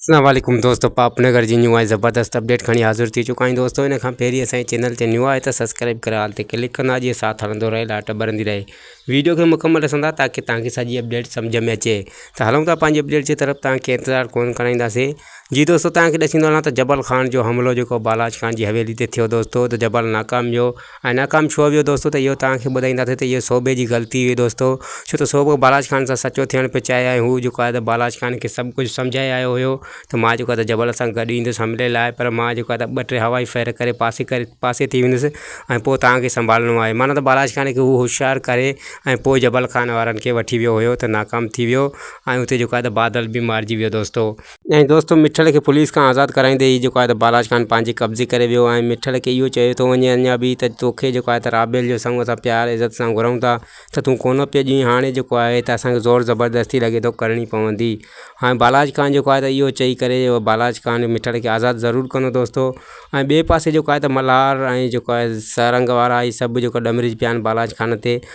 اسلام عليڪم دوستو پاپ نگر جي نيو ۽ زبردست اپڊيٽ کڻي حاضر ٿي چڪا آهيون دوستو ان کان پهرين اسان جي چينل تي نيو آهي ته سبسڪرائب ڪري آل تي ڪلڪ ڪندا جي ساٿ هلندو رهي لائٽ ٻرندي رهي ويڊيو کي مڪمل ڏسندا تاڪي توهان کي سڄي اپڊيٽ سمجھ ۾ اچي ته هلون ٿا پنهنجي اپڊيٽ جي طرف توهان کي انتظار ڪون ڪرائينداسين جي دوستو توهان کي ڏسندو هلان ته جبل خان جو حملو جيڪو بالاچ خان جي حويلي تي ٿيو دوستو ته جبل ناڪام جو ۽ ناڪام ڇو ويو دوستو ته اهو توهان کي ٻڌائينداسين ته اهو صوبي جي غلطي هئي دوستو ڇو ته صوبو بالاچ خان سان سچو ٿيڻ پيو چاهي ۽ هو جيڪو آهي ته بالاچ خان کي سڀ ڪجهه سمجهائي آيو هيو ته مان جيڪو آهي ته جبل سان گڏ ايندس حملي لاء پر مان جيڪو آهي ته ٻه ٽي هوائي فير ڪري پاسي ڪري پاسي ٿي ويندس ۽ پوء توهان کي سنڀالڻو آهي معنيٰ ته بالاچ خان کي هو هوشيار ڪري ۽ پوء جبل خان وارن کي وٺي ويو هيو ته ناڪام ٿي ويو ۽ اتي جيڪو آهي ته بادل به مارجي ويو دوستو ۽ دوستو مٺڙ کي پوليس کان آزاد ڪرائيندي هي جيڪو آهي ته بالاچ خان پنهنجي قبضي ڪري ويو ۽ مٺڙ کي اهو چيو ٿو وڃي اڃا به ته توکي جيڪو آهي ته رابيل جو سڱو اسان پيار عزت سان گهرون ٿا ته تون ڪونه پيو ڏئين هاڻي جيڪو آهي ته اسانکي زور زبردستي لڳي ٿو ڪرڻي پوندي هاڻي بالاچ خان جيڪو آهي ته اهو چئي ڪري اهو بالاچ خان مٺڙ کي آزاد ضرور ڪندو دوستو ۽ ٻئي پاسي جيڪو آهي ته ملهار ۽ جيڪو آهي سارنگ وارا هي سڀ جيڪو ڏمري پيا آهن بالاچ خان تي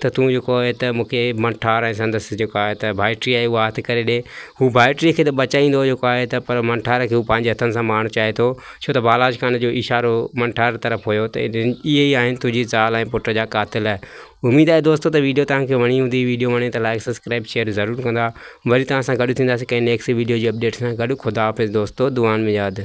ته تون جيڪو آهي ته مون کي مڙس ٺار ۽ سندس جيڪو آهي ته ڀائٽي آهي اها هٿ ڪري ڏي. هو ڀائٽي کي ته بچائيندو جيڪو آهي ته پر مڙس ٺار کي هو پنهنجي هٿن سان مارڻ چاهي ٿو ڇو ته بالاچ خان جو اشارو مڙس ٺار طرف هيو ته اهي ئي آهن تنهنجي زال ۽ پٽ جا قاتل. اميد آهي دوستو ته ويڊيو توهان کي وڻي هوندي ويڊيو وڻي ته لائڪ سبسڪرائب شيئر ضرور ڪندا وري توهان سان گڏ ٿينداسين ڪنهن نيڪسٽ ويڊيو جي اپڊيٽ سان گڏ خداحافظ دوستو دعائن ۾ ياد.